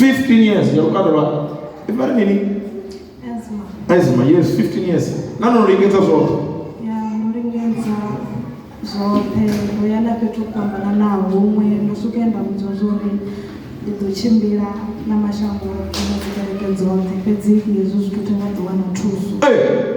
15 years ya lukanda lwa ivha ri mini Ezra, ezima yes 15 years na no lingedza zwoṱhe ya ndo lingedza zwoṱhe ndo ya na fhethu ho fhambananaho huṅwe ndo swika ya nda vhudzwa zwo uri ndi ḓo tshimbila na mashango oṱhe na dzi kereke dzoṱhe fhedzi hezwo zwithu thi nga ḓi wana thuso Eh,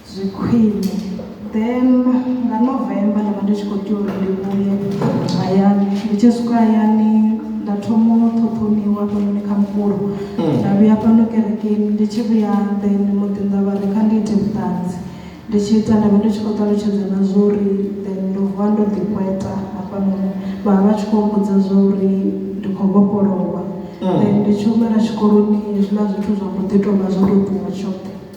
zwi khwine then nga november nda vha ndi tshi khou tea uri ndi vhuye hayani ndi tshi swika hayani nda thoma u ṱhoṱhoniwa hafhanoni kha mukulu mm. nda vhuya fhano kerekeni ndi tshi vhuya then muḓi nda vha ri kha ndi ite vhuṱanzi ndi tshi ita nda vha ndi tshi khou ṱalutshedza na zwo uri then ndo vuwa ndo ḓikweta hafhanoni vha vha tshi khou mbudza zwa uri ndi khou vhofholowa mm. then ndi tshi humela tshikoloni hezwiḽa zwithu zwa mbo ḓi tou vha zwo tou ṱuwa tshoṱhe